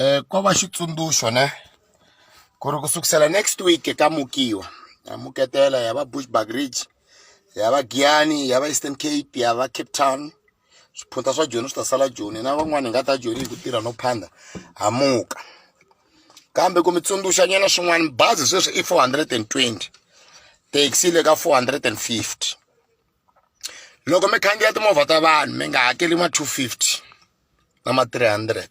eh ko va xitsundzuxo ne ku ri ku sukusela next week ka mukiwa ya muketela ya va bushback ridge ya va giyani ya va eastern cape ya va cape town swiphunta swa joni swi ta sala joni hina van'wani hi nga ta joni hi ku tirha no phanda hamuka kambe ku mi tsundzuxa nyana swin'wana bazi sweswi i four hundred and twenty taxi le ka four hundred and fifty loko mi khandziya timovha ta vanhu mi nga hakeli ma two fifty na ma three hundred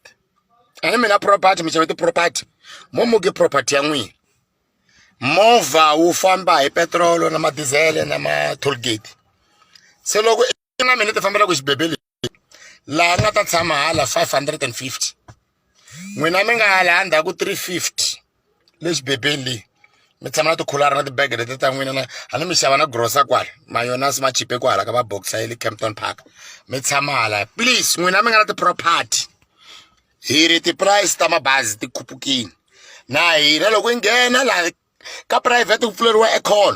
ani mina property mi xave ti-property mo muke property ya n'wina movha wu famba hi petirolo na madizele na ma-tollgate se loko na mina ti fambelaka xibebe lexi laha nga ta tshama hala 550 n'wina mi nga hala endzhaku 350 le xibebeni leyi mi tshama na tikhulara na tibege leti ta n'wina na a ni mi xava na grosa kwala mayonasi ma chipe kwala ka va boxa ye le campton park mi tshama hala please n'wina mi nga na ti-property hi ri ti-price ta mabazi ti khupukile na hina loko hi nghena laha ka private ku pfuleriwa econ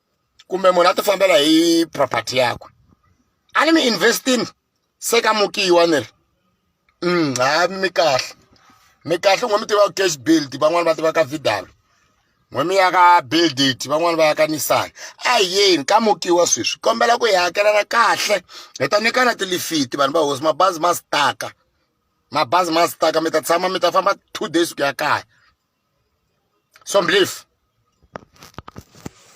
kumbe munhu a ti fambela hi property yakwe a ni mi investing se ka mukiwa ni ri mm, ha mi kahle mi kahle n'we mi tiva ku cash build van'wani va tiva ka vidal n'we mi ya ka build it van'wani va ya ka nissan a yeni ka mukiwa sweswi kombela ku hi hakelana kahle hi ta nyikana tilifiti vanhu va hosi mabazi ma staka mabazi ma staka mi ta tshama mi ta famba two days ku ya kaya so mblief